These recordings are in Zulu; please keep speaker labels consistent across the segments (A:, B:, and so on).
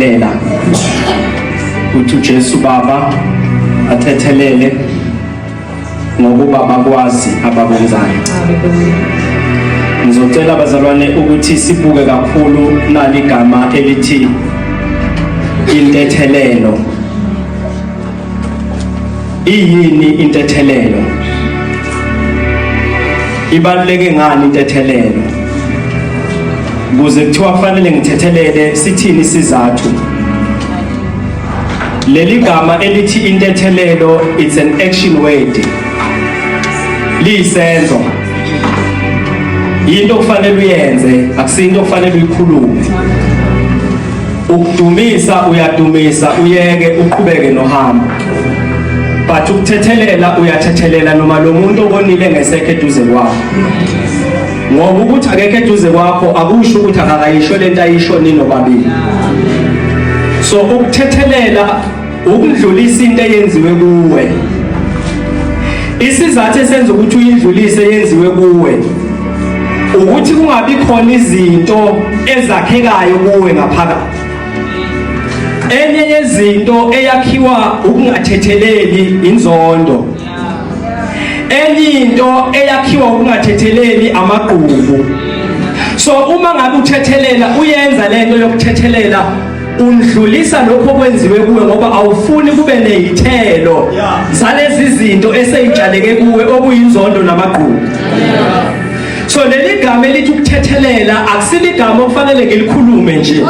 A: thethelela ukuthi uJesu Baba athethelele ngokuba bakwazi abakwenzayo ngizocela abazalwane ukuthi sibuke kakhulu nali gama elithi intethelelo Iyini intethelelo? Ibaluleke ngani intethelelo? Kuze kuthiwa kufanele ngithethelele sithini isizathu? Leli gama elithi intethelelo it's an action word. Liyisenzo. Yinto okufanele uyenze, akusinto okufanele uyikhulume. Ukudumisa uyadumisa uyeke uqhubeke nohambo. But ukuthethelela uyathethelela noma lo muntu obonile ngesekhe eduze kwakho. Ngoba ukuthi akekho eduze kwakho akusho ukuthi akakayisho lento ayisho nini obabili. So ukuthethelela Ukundlulisa into eyenziwe kuwe. Isizathu esenza ukuthi uyindlulise yenziwe kuwe ukuthi kungabi khona izinto ezakhekayo kuwe ngaphakathi. Enye yezinto eyakhiwa ukungathetheleli inzondo. Enye into eyakhiwa ukungathetheleli amagqubu. So uma ngabe uthethelela uyenza lento yokuthethelela undlulisa lokho kwenziwe kuwe ngoba awufuni kube nezithelo zalezi zinto eseyitshaleke kuwe okuyinzondo namagqubu so leli gama elithi ukuthethelela akusiligama okufanele ngilikhulume nje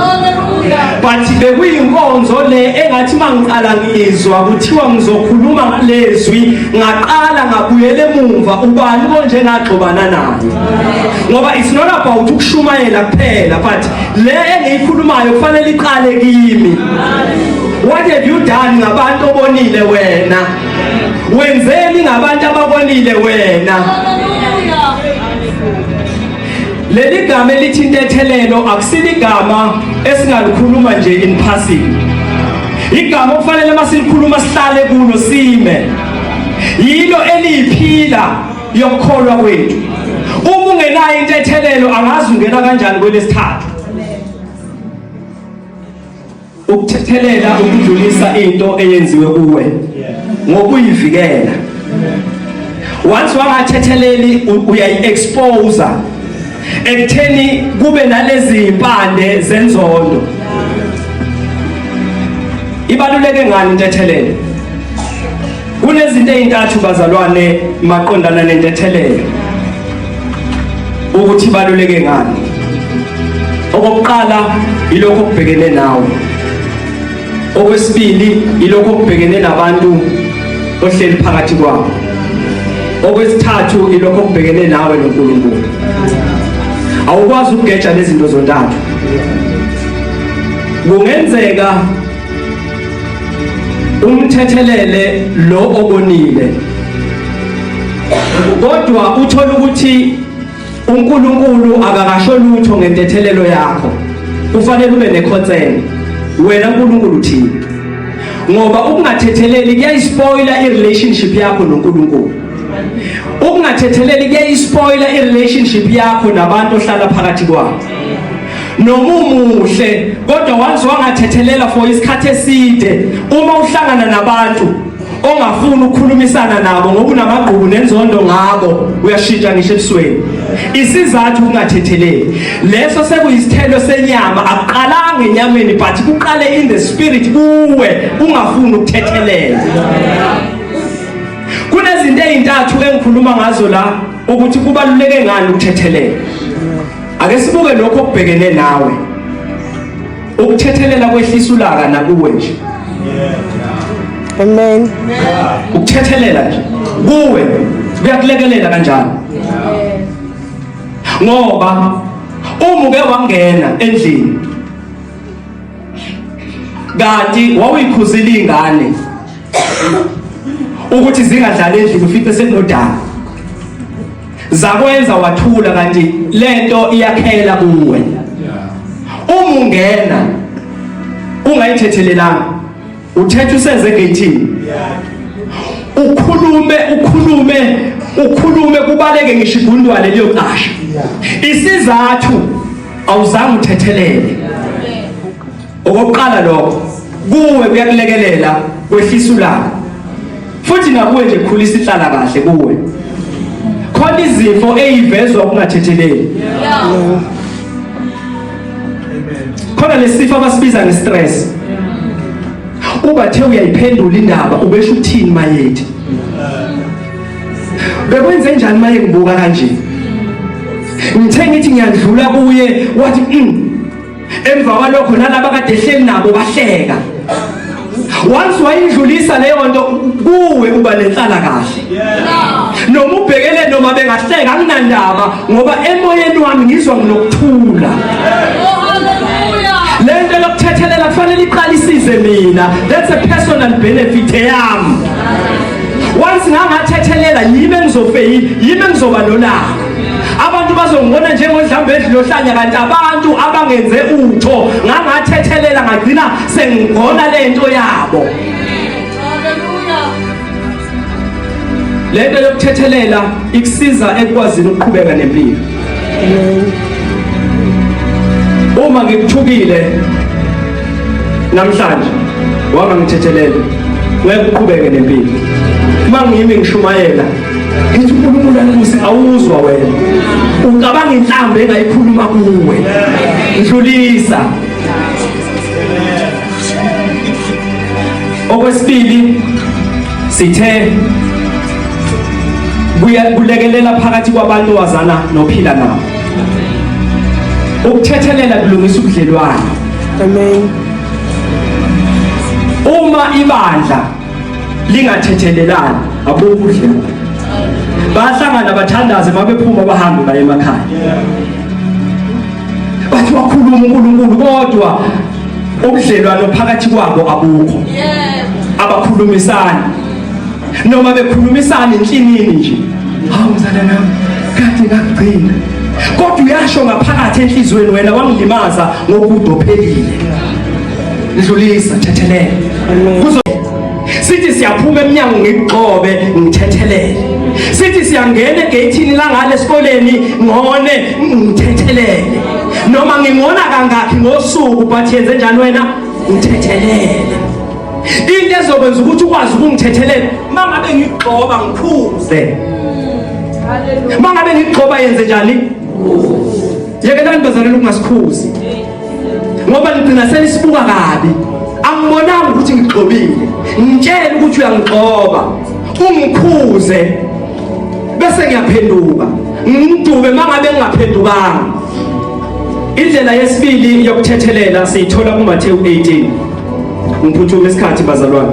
A: but bekuyinkonzo le engathi mangiqala ngizwa kuthiwa ngizokhuluma ngalezwi ngaqala ngabuyela emumva ubani konje ngagxobana naye ngoba it's not about ukushumayela kuphela but le engiyikhulumayo kufanele iqale kimi what have you done ngabantu obonile wena wenzeni ngabantu ababonile wena leli gama elithi intethelelo akusiligama esingalikhuluma nje in passing igama okufanele masilikhuluma sihlale kulo sime yilo eliphila yokukholwa kwethu uma ungenayo intethelelo angazi ungena kanjani kwelesithathu ukuthethelela ukudlulisa into eyenziwe kuwe ngokuyivikela once wangathetheleli uyayi-expose ekutheni kube nalezi mpande zenzondo ibaluleke ngani intethelelo Kunezinto ezintathu bazalwane maqondana nentethelelo ukuthi baluleke ngani. Okokuqala ilokho kubhekene nawe. Okwesibili ilokho kubhekene nabantu ohleli phakathi kwabo. Okwesithathu ilokho kubhekene nawe noNkulunkulu. Awukwazi ukugeja lezi zinto zontathu. Kungenzeka umthethelele lo obonile kodwa uthola ukuthi uNkulunkulu akakasho lutho ngentethelelo yakho kufanele ube nekhonseni wena uNkulunkulu uthini ngoba ukungathetheleli kuyayispoila irelationship yakho noNkulunkulu ukungathetheleli kuyayispoila irelationship yakho nabantu ohlala phakathi kwabo nomumuhle kodwa wanze wangathethelela for isikhathi eside uma uhlangana nabantu ongafuni ukukhulumisana nabo ngoba unamagqubu nenzondo ngabo uyashintsha ngisho ebusweni isizathu kungathetheleli leso sekuyisithelo senyama akuqalanga enyameni but kuqale in the spirit kuwe ungafuni ukuthethelela kunezinto ezintathu engikhuluma ngazo la ukuthi kubaluleke ngani ukuthethelela Ake sibuke lokho okubhekene nawe. Ukuthethelela kwehlisa ulaka nakuwe nje. Amen.
B: Ukuthethelela
A: nje kuwe kuyakulekelela kanjalo. Ngoba uma uke wangena endlini kanti wawuyikhuzile ingane ukuthi zingadlali endlini ufice senodala Zakwenza wathula kanti lento iyakhela kuwe. Uma ungena ungayithethelelanga uthethe usenze gating. Ukhulume ukhulume ukhulume kubaleke ngisho igundwane liyoqasha. Isizathu awuzange uthethelele. Okokuqala lokho kuwe kuyakulekelela kwehlisa ulaka. Futhi nakuwe nje khulisa ihlala kahle kuwe. Khona izifo eyivezwa ukungathetheleli. Khona lesifo abasibiza ngestress. Ubathe uyayiphendula indaba ubesho uthini mayethi. Bekwenze njani maye ngibuka kanje? Ngithe ngithi ngiyadlula kuye wathi mm, emva kwalokho nalaba kade ehleli nabo bahleka once wayindlulisa leyo nto kuwe uba nenhlala kahle noma ubhekele noma bengahleka anginandaba ngoba emoyeni wami ngizwa nginokuthula le nto yokuthethelela kufanele iqale isize mina that's a personal benefit eyami once ngangathethelela yimi engizofeyini yimi engizoba nolaka abantu bazongibona njengodlamba edlilohlanya kanti abantu abangenze utho ngangathethelela ngagcina sengigona le nto yabo le nto yokuthethelela ikusiza ekwazini ukuqhubeka nempilo uma ngikuthukile namhlanje wama ngithethelele ngeke uqhubeke nempilo uma ngiyimi ngishumayela ngithi unkulunkulu anibuse awuzwa wena ucabanga inhlamba engayikhuluma kuwe ndlulisa okwesibili sithe kulekelela phakathi kwabantu wazana nophila nabo ukuthethelela kulungisa ubudlelwane amen uma ibandla lingathethelelani abokudla bayahlangana bathandaze mabephuma bahambe baye emakhaya bathi wakhuluma uNkulunkulu kodwa ubudlelwano phakathi kwabo abukho abakhulumisani noma bekhulumisana enhlinini nje hawu mzala nami kade ngakugcina kodwa uyasho ngaphakathi enhlizweni wena wangilimaza ngokudophelile ndlulisa thethelele kuzo sithi siyaphuma emnyango ngigxobe ngithethelele sithi siyangena egeyithini langale esikoleni ngone ngithethelele noma ngingona kangakhi ngosuku but yenze njani wena ngithethelele into ezokwenza ukuthi ukwazi ukungithethelela uma ngabe ngigxoba ngiphuze uma ngabe ngigxoba yenze njani yekelani bazaleli ukungasikhuzi ngoba ngigcina senisibuka kabi angibonanga ukuthi ngigxobile ngitshele ukuthi uyangigxoba ungikhuze bese ngiyaphenduka ngimdube mangabe ngingaphendukanga indlela yesibili yokuthethelela siyithola kuMathewu 18 ngiphuthume isikhathi bazalwane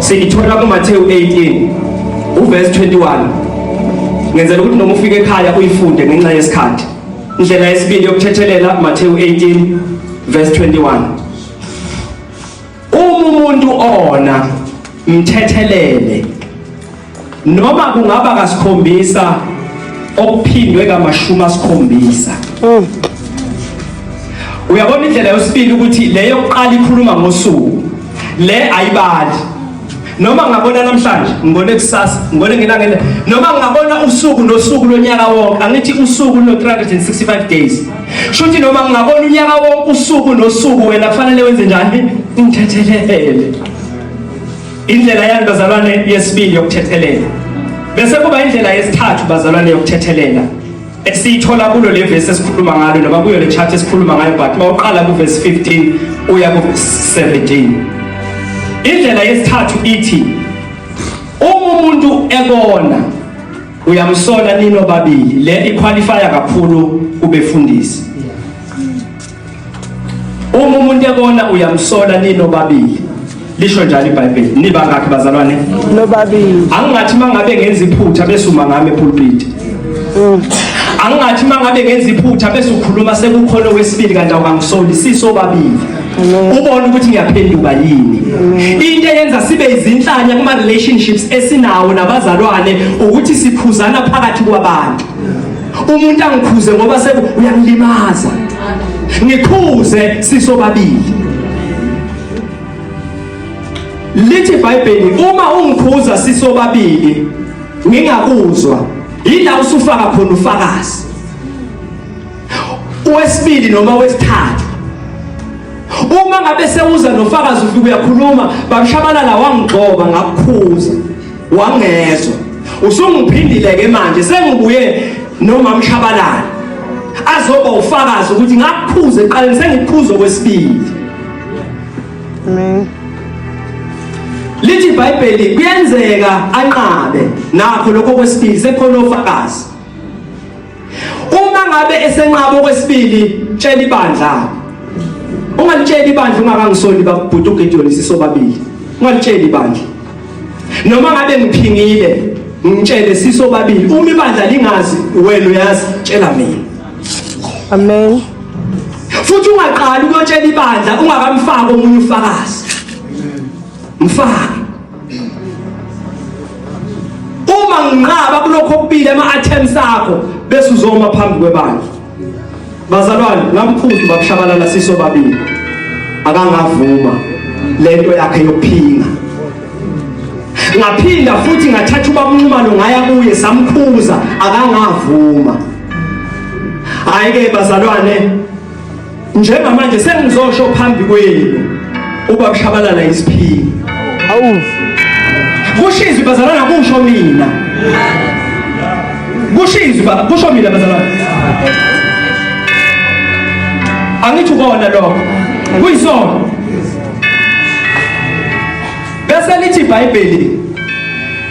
A: siyithola kuMathewu 18 uverse 21 ngenzela ukuthi noma ufike ekhaya uyifunde ngenxa yesikhathi Indlela yesibili yokuthethelela Mateyu 18 verse 21. Uma umuntu ona mthethelele noma kungaba kasikhombisa okuphindwe kamashumi asikhombisa. Mm. Uyabona indlela yesibili ukuthi leyo kuqala ikhuluma ngosuku. Le ayibali. noma ngingabona namhlanje ngibone kusasa ngibone ngelangele noma ngingabona usuku nosuku lonyaka wonke angithi usuku luno-365 days kusho ukuthi noma ngingabona unyaka wonke usuku nosuku wena kufanele wenze njani ngithethelele indlela yani bazalwane yesibili yokuthethelela bese kuba indlela yesithathu bazalwane yokuthethelela esiyithola kulo le verse esikhuluma ngalo noma kuyo le chart esikhuluma ngayo but mawuqala ku verse 15 uya ku 17 indlela yesithathu ithi uma umuntu ekona uyamsola nino babili le iqualifya kakhulu kubefundisi Uma umuntu ebona uyamsola nino babili. Lisho njalo iBhayibheli. Niba ngakhe bazalwane? Nobabili. Angingathi mangabe ngenza iphutha bese uma ngame pulpit. Mm. Angingathi mangabe ngenza iphutha bese ukhuluma sekukhona wesibili kanti awungisoli siso babili. ubone ukuthi ngiyaphenduka yini into eyenza sibe izinhlanya kuma relationships esinawo nabazalwane ukuthi sikhuzana phakathi kwabantu umuntu angikhuze ngoba seku uyangilimaza ngikhuze sisobabili lithi iBhayibheli uma ungikhuza sisobabili ngingakuzwa yila usufaka khona ufakazi wesibili noma wesithathu uma ngabe sewuza nofakazi ufike uyakhuluma babishabalala wangigxoba ngakukhuza wangezwa usungiphindile ke manje sengibuye noma mshabalala azoba ufakazi ukuthi ngakuphuza eqaleni sengikuphuza kwesibili amen lithi ibhayibheli kuyenzeka anqabe nakho lokho kwesibili sekhona ofakazi uma ngabe esenqaba okwesibili tshela ibandla ungalitsheli ibandla ungakangisoli babhuti uGideon sisobabili ungalitsheli ibandla noma ngabe ngiphingile ngitshele sisobabili uma ibandla lingazi wena uyazi tshela mina amen futhi ungaqali ukuyotshela ibandla ungakamfaki omunye ufakazi mfaki uma nginqaba kulokho okubili ama-attempts akho bese uzoma phambi kwebandla bazalwane ngamphuthu bakushabalala siso babili akangavuma lento yakhe yokuphinga ngaphinda futhi ngathatha ubabunxumalo ngaya kuye samkhuza akangavuma hayi-ke bazalwane njengamanje sengizosho phambi kwenu uba kushabalala isiphini awu kusho izwi bazalana kusho mina kusho izwi kusho mina bazalana angithi ukona lokho kuyisona bese lithi ibhayibheli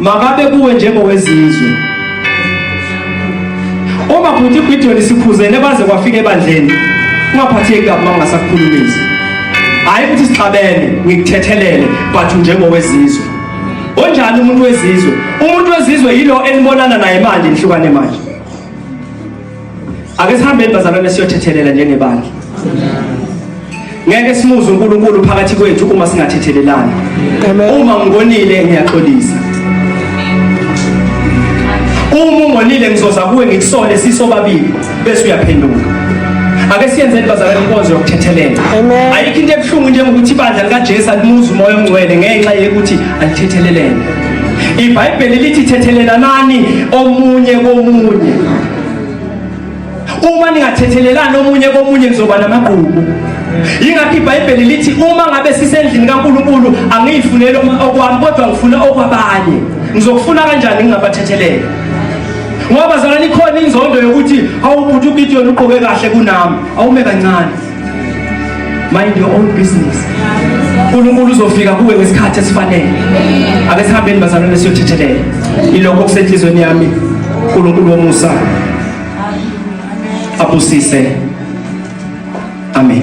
A: Makabe kuwe njengowezizwe. Uma bhuti iGideon isikhuzene baze kwafika ebandleni. Ungaphatheki kabi uma ungasakukhulumisi. Hayi ukuthi sixabene, ngikuthethelele but njengowezizwe. Onjani umuntu wezizwe? Umuntu wezizwe yilo enibonana naye manje nihlukane manje. Ake sihambeni bazalwane siyothethelela njengebandla. Ngeke simuze uNkulunkulu phakathi kwethu uma singathethelelani. Uma ngonile ngiyaxolisa. Uma ungonile ngizoza kuwe ngikusole sisobabili bese uyaphenduka. Ake siyenze bazalwane inkonzo yokuthethelela. Ayikho into ebuhlungu njengokuthi ibandla likaJesu alimuzi umoya ongcwele ngenxa yokuthi alithethelelene. IBhayibheli lithi thethelenanani omunye komunye. uma ningathethelelani omunye komunye nizoba namagqubu yingakho ibhayibheli lithi uma ngabe sisendlini kankulunkulu angiyifuneli okwami kodwa ngifuna okwabanye ngizokufuna kanjani ngingabathethelele ngoba zalani khona inzondo yokuthi awubhuti ugideon ugqoke kahle kunami awume kancane mind your own business uNkulunkulu uzofika kuwe ngesikhathi esifanele ake sihambeni bazalwane siyothethelela ilokho okusenhlizweni yami uNkulunkulu womusa abusise amen